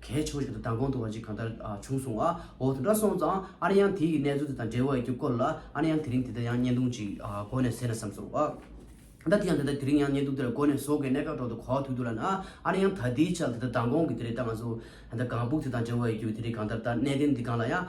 གས་ཆོག་བཞིན་དུ་མདང་དགོང་དུ་བ་ཅིག་གང་ལྟར་བྱུང་སོང་ཨ་འོ་དེ་འདྲ་སོང་ཙང་ཨ་རེ་ཡང་དེ་ཡི་གནས་ཚུལ་དེ་དང་འབྲེལ་བ་ཡོད་རྒྱུ་སྐོར་ལ་ཨ་རེ་ཡང་དེ་རིང་དེ་ལྟར་ཡང་བརྙན་ཐུང་ཅིག་གོ་ནས་ཟེར་ན་བསམ་སོང་ཨ། ད་དེ་ཡང་དེ་ལྟར་དེ་རིང་ཡང་བརྙན་ཐུང་དེ་ལ་གོ་ནས་བཟོ་དགོས་གནད་འགག་སྒྲོག་འདུག་གོ་ཐུག་འདུག་ལ་ཨ་ཨ་རེ་ཡང་ད་དེའི་ཆ་ལ་དེ་ལྟར་མདང་དགོང་གི་དེ་རེད་ད་ང་ཚོ། ད་གངས་སྦུག་དེ་དང་འབྲེལ་བ་ཡོད་རྒྱུ་དེ་རེད་གང་ལྟར་ད་གནས་བརྟན་འདི་གང་ལ་ཡང།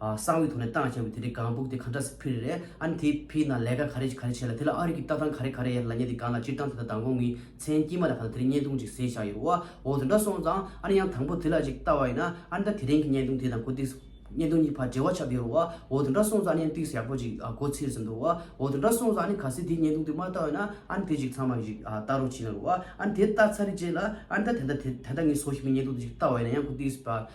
གསང་བའི་ཐོག་ནས་བཏང་བྱས་པའི་དེ་རིགས་གང་སྦུག་དེ་གང་འདྲ་སུ་ཕུལ་རེད་ཨ་ནི་དེ་ཕུལ་ན་ལས་ཀ་ག་རེ་ག་རེ་བྱས་ལ་དེ་ལ་ཨ་རིག་གི་ལྟ་སྟངས་ག་རེ་ག་རེ་ཡིན་ལ་ཉེ་དེ་གང་ལ་སྤྱིར་བཏང་དེ་དང་མདང་དགོང་གི་མཚན་དཀྱིལ་མ་ལ་ག་ལ་དེ་རིགས་བརྙན་ཐུང་ཅིག་བཟོས་བཞག་ཡོད་བ་འོ་དེ་འདྲ་སོང་ཙང་ཨ་ནི་ཡང་དང་པོ་དེ་ལ་ཅིག་བལྟ་བ་ཡིན་ན་ཨ་ནི་ད་དེ་རིང་གི་བརྙན་ཐུང་དེ་དང་གོ་ཏིག་བརྙན་ཐུང་གཉིས་བར་འབྲེལ་བ་ཆགས་ཀྱི་ཡོད་བ་འོ་དེ་འདྲ་སོང་ཙང་ཨ་ནི་ཡང་ཏིག་ཡག་པོ་ཅིག་གོ་ཚེ་ཟིན་འདུག་བ་འོ་དེ་འདྲ་སོང་ཙང་ཨ་ནི་ག་སེ་དེའི་བརྙན་ཐུང་དེ་མ་བལྟ་བ་ཡིན་ན་ཨ་ནི་དེ་ཅིག་ཚང་མ་གི་ཅིག་བལྟ་རོགས་བྱིན་ཡོད་བ་འོ་ཨ་ནི་དེ་བལྟ་ཚར་རེ་རྗེས་ལ་ཨ་ནི་ད་དེ་འདྲ་དེ་ད་ངས་བཟོ་བཞིན་པའི་བརྙན་ཐུང་དེ་ཅིག་བལྟ་བ་ཡིན་ན་ཡང་གོ་ཏིག་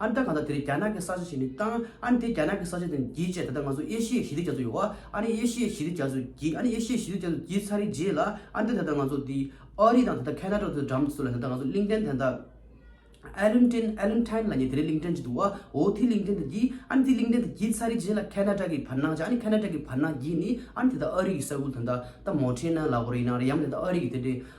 ཨ་མདའ་གང་ལྟར་དེ་རིང་རྒྱ་ནག་གི་ས་ཆ་ཞིག་ནས་བཏང། ཨ་ནི་དེ་རྒྱ་ནག་གི་ས་ཆ་དེ་ནས་བགྱིས་རྗེས་ད་ལྟ་ང་ཚོ་ཨེ་ཤི་ཡའི་ཞི་བདེ་རྒྱ་མཚོ་ཡོད། ཨ་ནི་ཨེ་ཤི་ཡའི་ཞི་བདེ་རྒྱ་མཚོ་བགྱིས། ཨ་ནི་ཨེ་ཤི་ཡའི་ཞི་བདེ་རྒྱ་མཚོ་བགྱིས་ཚར་རིས་རྗེས་ལ་ཨ་མདའ་ད་ལྟ་ང་ཚོ་དེ་ཨོ་རི་དང་ད་ལྟ་ཁ་ན་ཏྲོ་དེ་འགྲམ་སུ་ལ་ད་ལྟ་ང་ཚོ་གླིང་ཕྲན་དེ་ད་ཨེ་ལུན་ཏྲིན་ཨེ་ལུན་ཐྲན་ལ་ཉེ་དེ་རིང་གླིང་ཕྲན་ཅིག་འདུག་ཨོ་དེ་གླིང་ཕྲན་དེ་བགྱིས། ཨ་ནི་དེ་གླིང་ཕྲན་དེ་བགྱིས་ཚར་རིས་རྗེས་ལ་ཁ་ན་ཏྲ་གི་བར་སྣང་བྱས་ཨ་ནི་ཁ་ན་ཏྲ་གི་བར་སྣང་བགྱིས་ནས་ཨ་ནི་དེ་ད་ཨོ་རི་གི་ས་ཁུལ་དང་ད་ད་མོ་ཁྲེ་ན་ལ་ཧོ་རི་ན་རི་ཡང་མི་ད་ད་ཨོ་རི་གི་དེ་འདྲའི་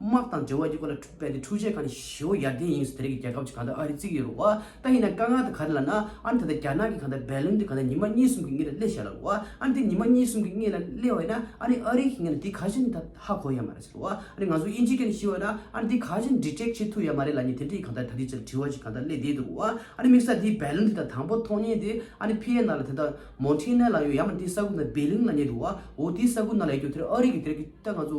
དམག་དང་འབྲེལ་བ་ཡོད་པ་ལ་འཕྲུལ་དཔལ་དེ་འཕྲུལ་ཆས་གང་ནས་ཞོ་ཡར་ལྡན་ཡིན་ཟེར་དེ་རིགས་ཀྱི་རྒྱལ་ཁབ་ཅིག་གང་ལྟར་ཨ་རི་བརྩིགས་ཀྱི་ཡོད་རུང་བ་ད་ཡིན་ན་དཀའ་ངལ་དེ་ག་རེ་ལ་ན་ཨ་ནི་ད་ལྟ་རྒྱ་ནག་གི་གང་ལྟར་བལ་ལུང་དེ་གང་ལྟར་ཉི་མ་གཉིས་གསུམ་གྱི་སྔས་ལ་སླེ་བཞག་ལ་རུང་བ་ཨ་ནི་དེ་ཉི་མ་གཉིས་གསུམ་གྱི་སྔས་ལ་སླེ་བས་ན་ཨ་ནི་ཨ་རི་གི་ངས་ན་དེ་ག་གཞི་ནས་ད་ཧ་གོ་ཡ་མ་རེད་ཟེར་རུང་བ་ཨ་ནི་ང་ཚོ་དབྱིན་ཇིའི་སྐད་ནས་ཤི་བས་ན་ཨ་ནི་དེ་ག་གཞི་ནས Detect བྱེད་ཐུབ་ཡ་མ་རེད་ལ་ཉེ་དེ་འདྲའི་གང་ལྟར་ད་དེ་ཅིར་དྲི་བ་ཅིག་གང་ལྟར་སླེ་བསྡད་འདུག་རུང་བ་ཨ་ནི་དམིགས་ས་དེ་བལ་ལུང་དེ་དང་དང་པོ་མཐོང་ཉེན་དེ་ཨ་ནི་བྷི་ཡེ་ན་ལ་དེ་ལྟར Montana ལ་ཡོད་ཡ་མ་ནི་དེའི་ས་ཁུག་ན Beiling ལ་ཉེ་འདུག་བ་འོ་དེའི་ས་ཁུག་ན་ལ་ཡོད་རྒྱུ་དེར་ཨ་རི་གི་དེ་རིགས་ཀྱི་ད་ང་ཚོ་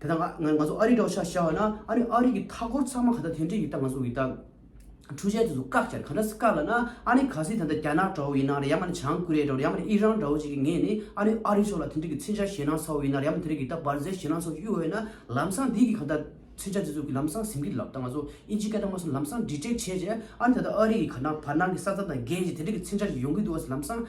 དེ་དག་ང་ང་ཚོ་ཨ་རིའི་དྲོ་ཤ་བྱ་བ་ན་ཨ་རི་ཨ་རི་གི་མཐའ་འཁོར་ཚང་མ་ག་ད་དེ་འདྲས་ཡིན་སྟབས་ང་ཚོ་འི་དང་འཕྲུལ་ཆས་དེ་ཚོ་བཀག་བསྐྱལ་ག་འདྲ་སི་བཀག་ལ་ན་ཨ་ནི་ག་སི་ད་ད་རྒྱ་ནག་འདྲ་བོ་ཡིན་ནའ་རེ་ཡ་མ་ནི་བྱང་ཀུ་རེ་འདྲ་བོ་རེ་ཡ་མ་ནི་ཨི་རན་འདྲ་བོ་ཅིག་གི་ངས་ནི་ཨ་རི་ཨ་རི་ཕྱོགས་ལ་དེ་འདྲས་ཀི་ཚིག་འཆལ་བཤད་ན་ཚ་བོ་ཡིན་ནའ་རེ་ཡ་མ་དེ་འདྲས་ཀི་ད་བར་ཟས་བཤད་ན་ཚོ་གཡུ་འོད་ན་ལམ་སང་འདི་གི་ག་ད་ཚིག་འཆལ་དེ་ཚོ་གི་ལམ་སང་ཟིམ་གི་ལབ་ད་ང་ཚོ་ཨི་འཇིག་སྐད་དང་མ་སོ་ལམ་སང་འདྲི་བྲེག་བྱས་རྗེས་ཨ་ནི་ད་ད་ཨ་རི་གི་ག་ན་བར་སྣང་གི་ས་ཚ་དང་རྒན་ཞིག་དེ་འདྲས་ཀི་ཚིག་འཆལ་ཞིག་ཡོང་གི་འདུག་ཨ་སི་ལམ་སང་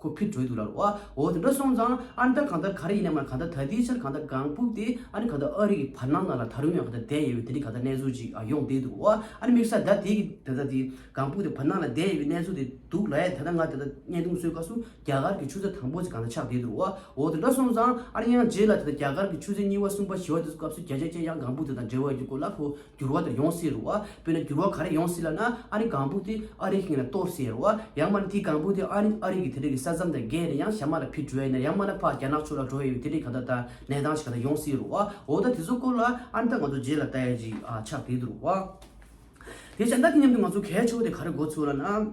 ཁོ་ཕི་བྲོས་འདུག་ལ། བ་འོ་དེ་འདྲ་སོང་ཙང་ཨ་མདའ་གང་ལྟར་ག་རེ་ཡིན་ནམ་ལ་གང་ལྟར་ད་ལྟའི་ཆར་གང་ལྟར་གངས་སྤུག་དེ་ཨ་ནི་གང་ལྟར་ཨ་རི་གི་བར་སྣང་ན་ལ་ད་རུང་ཡང་གང་ལྟར་བསྡད་ཡོད་པའི་དེ་འདྲའི་གང་ལྟར་གནས་ཚུལ་ཅིག་ཨ་ཡོང་བསྡད་འདུག་བ་ཨ་ནི་དམིགས་ས་ད་དེ་གི་ད་ལྟ་དེ་གངས་སྤུག་དེ་བར་སྣང་ལ་བསྡད་ཡོད་པའི་གནས་ཚུལ་དེ་འདུག་ལ་ཡ་ད་ལྟ་ང་ད་ལྟ་བརྙན་ཐུང་བཟོས་སྐབས་སུ་རྒྱ་གར་གི་ཆུ་ཚོད་དང་པོ་ཅིག་གང་ལྟར་ཆགས་བསྡད་འདུག་བ་འོ་དེ་འདྲ་སོང་ཙང་ཨ་རི་ཡང་རྗེས་ལ་ད་ལྟ་རྒྱ་གར་གྱི་ཆུ་ཚོད་གཉིས་བ་གསུམ་བ་བཞི་བ་དེ་ཚོ་སྐབས་སུ་རྒྱ་ཆ་ཅན་ཡང་གངས་སྤུག་དེ་དང་འབྲེལ་བ་ཡོད་རྒྱུ་སྐོར་ལ་ཁོ་འགྱུར་བ་དེ་ཡོང་སྲིད་རུང་བ་དཔེར་ན་འགྱུར་བ་ག་རེ་ཡོང་སྲིད་ལབ་ན་ཨ་རི་གང་བུ་དེ་ཨ་རིའི་ཁེངས་ལ་གཏོར་སྲིད་ཡ་རུང་བ་ཡང་མ་ན་དེ་གང་བུ་དེ་ཨ་རི་ཨ་རི་གི་དེ་རིགས་ཀྱི་ས་མཚམས་དང་བརྒལ་ནས་ཡང་ཞྭ་དམར་ལ་ཕི་འགྲོ་ཡ་ན་ཡང་མ་ན་ཕག་རྒྱ་ནག་ཕྱོགས་ལ་འགྲོ་ཡ་ཡོད་དེ་རིགས་ག་ད་ལྟ་གནས་སྟངས་ཞིག་ག་ད་ཡོང་སྲིད་རུང་བ་འོ་ད་དེ་ཚོ་སྐོར་ལ་ཨ་མདའ་ང་ཚོ་རྗེས་ལ་ལྟ་ཡ་ཅིག་ཆགས་བསྡད་འདུག་རུང་བ། དེ་ཞྭ་མདའ་དེ་མཉམ་དུ་ང་ཚོ་གས་ཆོ་ག་དེ་ག་རེ་འགོ་ཚུགས་ལབ་ན།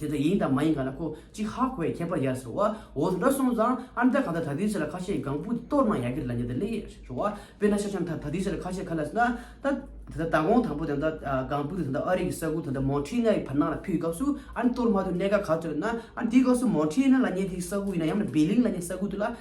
དེ་དག་ཡིན་དང་མ་ཡིན་ག་ལ་ཁོ་གཅིག་ཧ་གོ་ཡ་ཁྱད་པར་ཡར་སོ་འོ་འདྲ་སོང་ཙང་ཨ་མདའ་ག་ད་ད་དུས་ཚོད་ལ་ཁ་ཤས་གང་བུ་དེ་གཏོར་ན་ཡག་གི་རེད་ལ་ཉེ་ད་ལེ་ཞོ་བ་དཔེ་ན་ཤ་ཆང་ད་ད་དུས་ཚོད་ལ་ཁ་ཤས་ཁ་ལ་ཟ་ན་ད་དེ་ད་ད་དགོང་དང་པོ་དེ་ད་གང་བུ་དེ་ད་ཨ་རིག་གི་ས་ཁུལ་ད་ད་མོང་ཁྲི་ནའི་བར་སྣང་ལ་ཕུལ་སྐབས་སུ་ཨ་གཏོར་མ་ཐུབ་གནད་ཀ་ག་ཚོད་ན་ཨ་དེའི་སྐབས་སུ་མོང་ཁྲི་ན་ལ་ཉེ་དེའི་ས་ཁུལ་ཡིན་ན་ཡང་ན་སྦེ་ལིང་ལ་ཉེ་ས་ཁུལ་དུ་ལ་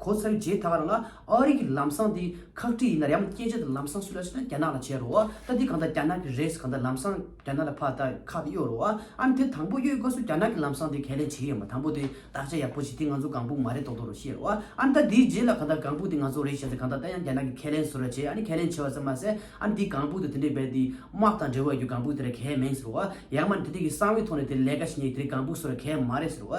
གོ་ཚར་རྗེས་ད་བར་ང་ཨ་རི་གི་ལམ་སང་དེ་ཁག་དཀྲི་ཡིན་ན་རེའམ་སྐད་ཆ་དེ་ལམ་སང་སུ་ལ་བྱེད་ན་རྒྱ་ནག་ལ་བྱེད་རོ་ད་དེ་གང་ད་རྒྱ་ནག་གི་རེད་གང་ད་ལམ་སང་རྒྱ་ནག་ལ་ཕ་ད་ཁག་དེ་གཡོག་རོ་ཨམ་དེ་དང་པོ་གཡོག་དགོས་སུ་རྒྱ་ནག་གི་ལམ་སང་དེ་ག་ལེ་བྱེད་ཡོད་མ་དང་པོ་དེ་དག་ཆ་ཡག་པོ་བྱེད་དེ་ང་ཚོ་གང་ཕུག་མ་རེད་ཏོག་ཏོག་རོ་བཤད་རོ་ཨམ་ད་དེའི་རྗེས་ལ་གང་ད་གང་ཕུག་དེ་ང་ཚོ་རེད་བྱས་ད་གང་ད་ད་ཡང་རྒྱ་ནག་གི་ཁས་ལེན་སུ་ར་བྱེད་ཨ་ནི་ཁས་ལེན་བྱེད་བ་ཙམ་མ་ཟད་ཨམ་དེའི་གང་ཕུག་དེ་དེ་འདྲའི་བས་དེ་དམག་དང་འབྲེལ་བ་ཡོད་རྒྱུ་གང་ཕུག་དེ་ར་གས་མེད་ཟེར་རོ་ཡང་མ་ནི་དེ་དེ་གི་གསང་བའི་ཐོག་ནས་དེ་ལས་ཀ་བྱེད་ཉེ་གི་དེ་རི་གང་ཕུག་སུ་ར་གས་མ་རེད་ཟེར་རོ་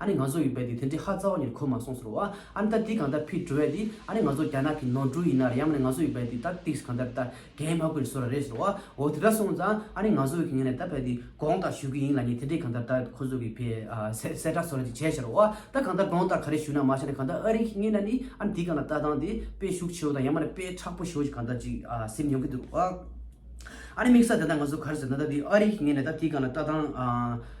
ཨ་ནི་ང་ཚོ་ཡོད་པས་དེ་དེ་འདྲའི་ཧ་རྩ་བ་ཉིད་གོ་མ་སོང་ཟེར་བ། ཨ་ནི་ད་འདི་གང་ལྟར་ཕིས་དྲི་བས་དེ་ཨ་ནི་ང་ཚོ་རྒྱ་ནག་གི་ནང་འགྲུལ་ཡིན་ནར་ཡང་མ་ནི་ང་ཚོ་ཡོད་པས་དེ་ད་ཏིགས་གང་ལྟར་ད་རྒན་མ་ཀུན་བཟོ་ར་རེད་ཟེར་བ། འོ་དེ་འདྲ་སོང་ཙང་ཨ་ནི་ང་ཚོ་ཡོད་གི་ངས་ནས་ད་ཕེབས་ཏེ་དགོངས་དག་ཞུ་གི་ཡིན་ལ་ཉེ་དེ་འདྲས་གང་ལྟར་ད་ཁོ་ཚོ་གི་ཕེ་སེ་བསད་གྲགས་བཟོ་ར་ཅིག་བྱས་ཟེར་བ། ད་གང་ལྟར་དགོངས་དག་ག་རེ་ཞུ་ན་མ་ཤ་ནས་གང་ལྟར་ཨ་རིག་གིས་མཉན་ན་ནི་ཨ་ནི་འདི་གང་ལ་ལྟ་སྟངས་དེ་དཔེ་ཤུགས་ཆེའོ་དང་ཡང་མ་ནི་དཔེ་ཁྲག་པོ་ཞེའོ་ཅིག་གང་ལྟར་ཅིག་སེམས་ཡོང་གི་འདུག་བ། ཨ་ནི་དམིགས་བསལ་དེ་ད་ང་ཚོ་ག་རེ་ཟེར་ན་ད་འདི་ཨ་རིག་གིས་མཉན་ནས་ད་འདི་གང་ལ་ལྟ་སྟངས།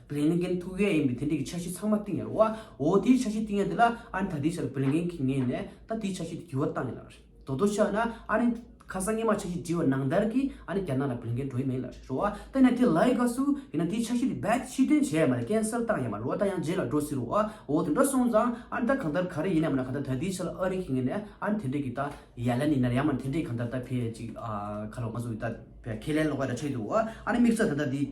བིརླན་གན་ཐུགས་ཀའི་ཨེ་མི་དེ་འདྲས་ཀྱི་ཆ་ཤས་ཚང་མ་བཏིང་ཡར་བ་འོ་དེའི་ཆ་ཤས་བཏིང་ཡར་དེ་ལ་ཨ་ནི་ད་དེའི་ཆ་ལ་བིརླན་གན་གིས་ངེས་ནས་ད་དེའི་ཆ་ཤས་དེ་འགྱུར་བ་བཏང་ཡིན་ལ་རྡོ་རྡོ་ཆགས་ན་ཨ་ནི་ཁ་སང་སྔས་མ་ཆ་ཤས་བྲིས་བ་ནང་ལྟར་གྱིས་ཨ་ནི་རྒྱ་ནག་ལ་བིརླན་གན་འགྲོ་ཡི་མེད་ལ་རོ་བ་ད་ཡིན་ན་དེ་ལའི་དགའ་སུ་ཡིན་ན་དེའི་ཆ་ཤས་དེ་རྦད་དེ་ཕྱིར་འདོན་བྱས་ཡ་མ་རེད་ཀན་སེལ་བཏང་ཡ་མ་རེད་རོ་བ་ད་ཡང་རྗེས་ལ་འགྲོ་སྲིད་རོ་བ་འོ་དེ་འདྲ་སོང་ཙང་ཨ་ནི་ད་གང་ལྟར་ག་རེ་ཡིན་ཡ་མ་ནི་གང་ལྟར་ད་དེའི་ཆ་ལ་ཨ་རི་གིས་ངེས་ནས་ཨ་ནི་དེ་འདྲས་ཀྱི་ད་ཡར་ལན་ཡིན་ན་རེད་ཡ་མ་ནི་དེ་འདྲས་ཀྱི་གང་ལྟར་ད་ཕེ་ཅིག་ཁ་ལོ་ང་ཚོ་ད་ཕེ་ཁས་ལེན་ལོག་ཡ་ད་ཆ་ཡོད་དུ་རོ་བ་ཨ་ནི་དམིགས་བསལ་ད་ད་དེའི།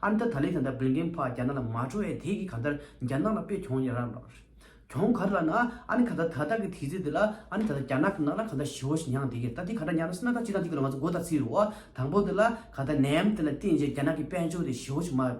ཨ་མདའ་ད་ལེ་ཟན་དང་བོད་མཁན་ཕ་རྒྱ་ནག་ལ་མ་འགྲོ་ཡས་དེ་གི་ག་མདར་རྒྱ་ནག་ལ་དཔེ་གྱོང་ཡ་ར་ར། གྱོང་ག་ར་ལ་ན་ཨ་ནི་ད་ད་ད་ད་གི་དེ་ཚེ་དེ་ལ་ཨ་ནི་ད་ད་རྒྱ་ནག་གི་ནག་ལ་ག་མདའ་ཞི་བོ་ཞིག་ཉང་དེ་གི་ད་དེ་ག་འདྲ་ཉང་ན་སི་ན་ད་གཅིག་དང་གཅིག་གི་ལོ་ང་ཚོ་མགོ་ད་ཚིག་རོ། དང་པོ་དེ་ལ་ག་ད་ནའམ་དེ་ལ་བསྟན་རྗེས་རྒྱ་ནག་གི་དཔལ་འབྱོར་དེ་ཞི་བོ་ཞིག་མ།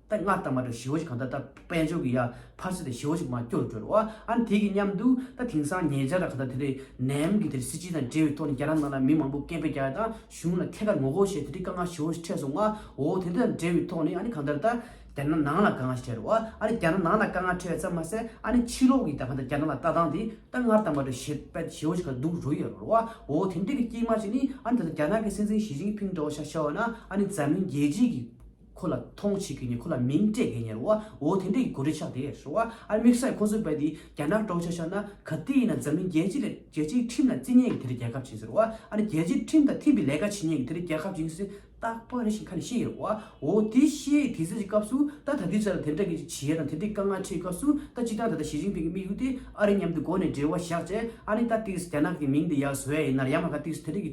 ད་སྔར་དང་མ་འདྲ་བ་ཞི་བོ་ཞིག་ག་མདའ་ད། དཔལ་འབྱོར་གྱི་ཡ། ཕར་ཚུར་དེ་ཞེ་བོ་ཞིག་མ་སྐྱོར་བྲོ་རོ། ཨཱ། དེ་གི་མཉམ་དུ། ད་དེང་སང་ཉེ་ཆར་ག་ད་དེ་རི། ནེམ་གི་དེ་རི་སྲིད་སྤྱི་དང་འབྲེལ་བའི་ཐོག་ནས་རྒྱ་ནག་ནང་ལ་མི་མང་པོ་སྐད་འབོད་རྒྱག་ཡ་དང་གཞུང་ལ་ཐད་ཀར་ངོ་རྒོལ་བྱས་དེ་རི་དཀའ་ངལ་ཞེ་བོ་ཞིག་འཕྲད་སོང་ཨ། འོ་དེ་དང་འབྲེལ་བའི་ཐོག་ནས་ཨ་ནི་གང་ལྟར་ད། རྒྱ་ནག་ནང་ལ་དཀའ་ངལ་ཞིག་འཕྲད་རོ་ཨ། ཨ་ནི་རྒྱ་ནག་ནང་ལ་དཀའ་ངལ་འཕྲད་ཡ་ཙམ་མ་ཟད་ཨ་ནི་ཕྱི་ལོག་གི་ད་ག་ད་རྒྱ་ནག་ལ་ལྟ་སྟངས་དེ་ད་སྔར་དང་མ་འདྲ་བ་ཞེ། པད་ཞེ་བོ་ཞིག་ག་ད་འདུག་རོ་ཡོད་རོ་ཨ། འོ་དེ་འདྲའི་གི་སྐྱེས་མ་ཞིག་ནི་ཨ་ནི་ད་ད་རྒྱ་ནག་གི་སྲིད་འཛིན་ཞི་ཅིང་ཕིང་འདྲ་བོ་ཤ་ཤ་བ་ན་ཨ་ནི་འཛམ་གླིང་རྒྱལ་སྤྱིའི་གི། ཁོ་ལ་མཐོང་བྱེད་ཀྱི་ནི་ཁོ་ལ་མིང་སྤྲད་དགེ་ཉེར་བ་འོ་དེ་འདྲས་ཀྱི་གོ་སྒྲིག་ཆགས་དེ་ཧྲི་བ་ཨར་དམིགས་བསལ་ཁོང་ཚོའི་དཔལ་འདི་རྒྱ་ནག་དཀྲོག་བྱ་ཤར་ན་ག་དུས་ཡིན་ན་འཛམ་གླིང་རྒྱལ་སྤྱི་ལ་རྒྱལ་སྤྱིའི་ཁྲིམས་ལ་བརྩི་ཉན་གྱི་དེ་རིང་རྒྱལ་ཁབ་བྱིན་ཟེར་བ་ཨ་རི་རྒྱལ་སྤྱིའི་ཁྲིམས་དང་མཐུན་པའི་ལས་ཀ་བྱེད་ཉན་གྱི་དེ་རིང་རྒྱལ་ཁབ་བྱིན་ཟེར་རྟག་པ་རེ་ཞིག་ཁ་ནས་ཤེས་ཡོད་བ་འོ་དེ་ཤེས་དེ་ཟེར་གྱི་སྐབས་སུ་ད་ད་དུས་ཚོད་ལ་དེ་འདྲ་གི་ཅིག་བྱེད་ཡ་དང་དེ་འདྲའི་དཀའ་ངལ་འཕྲད་སྐབས་སུ་ད་སྤྱི་དང་ད་ད་ཞི་ཅིང་ཕིང་གི་དམིགས་ཡུལ་དེ་ཨ་རི་མཉམ་དུ་སྒོ་ནས་འབྲེལ་བ་བཞག་བྱས་ཨ་ནི་ད་དུས་སུ་རྒྱ་ནག་གི་མིང་དེ་ཡ་བཟོ་ཡ་ཡིན་ནར་ཡང་མ་ག་དུས་སུ་དེ་འདྲས་ཀྱི་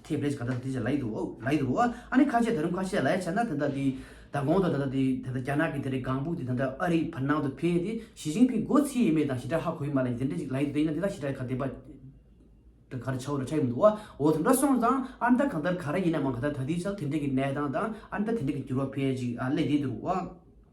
དེས་པས་ག་ད་དེ་བྱས་ལ་ཡི་དུ་བོ་ལ་ཡི་དུ་བོ་ཨ་ནི་ཁ་ཆེ་ད་རུང་ཁ་ཆེ་ལ་ཡ་བྱས་ན་དེ་འདྲ་དེ་ད་གོང་དུ་ད་ད་དེ་དེ་ད་རྒྱ་ནག་གི་དེ་རི་གངས་བུག་དེ་ད་ད་ཨ་རི་བར་སྣང་དུ་འཕེལ་དེ་ཞི་ཅིང་ཕིང་སྒོ་ཚིགས་ཡེ་མེད་དང་ཞི་དྲག་ཧ་གོ་ཡི་མ་ལ་ཡི་དེ་འདྲ་ཅིག་ལ་ཡི་དུ་དེ་ཡིན་ན་དེ་ད་ཞི་དྲག་ག་དེ་པ་ད་ག་རུ་ཆ་བོ་ད་ཆ་ཡི་མི་འདུག་བ་འོ་དེ་འདྲ་སོང་ཙང་ཨ་ནི་ད་གང་ལྟར་ག་ར་ཡིན་ནའང་ག་ད་ད་དེའི་ཆ་ལ་དེ་འདྲ་གི་གནས་སྟངས་དང་ཨ་ནི་ད་དེ་འདྲ་གི་འགྱུར་བ་འཕེལ་ཅིག་ཨ་ལས་དེ་དུ་རུ་བ།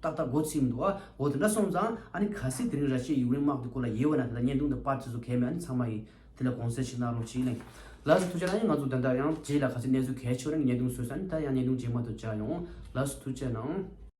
ཏག་ཏག་སྒོ་ཚིག་མི་འདུག་ཨ། འོ་དེ་འདྲ་སོང་ཙང། ཨ་ནི་ག་སྲིད་དེ་རིང་ར་ཤེས་ཡིག་རིང་དམག་དེ་སྐོར་ལ་ཡེ་བ་ན་དེ་དག་བརྙན་ཐུང་དུ་དཔར་བྱེད་ཟུག་གལ་མེད་ཨ་ནི་ཚང་མ་ཡིན། དེ་ལ་གོང་གསལ་ཞིག་གནང་རོགས་གྱིས་གླེང། ལགས་སོ་ཐུགས་ཆེ་ཨ་ནི་ང་ཚོ་འདི་འདྲ་ཡང་རྗེས་ལ་ག་སྲིད་གནས་ཚུལ་གལ་ཆེ་བ་རང་གི་བརྙན་ཐུང་བཟོས་ས་ཨ་ནི་ད་ཡང་བརྙན་ཐུང་རྗེས་མ་དུ་བཅར་ཡོང། ལགས་སོ་ཐུགས་ཆེ་གནང།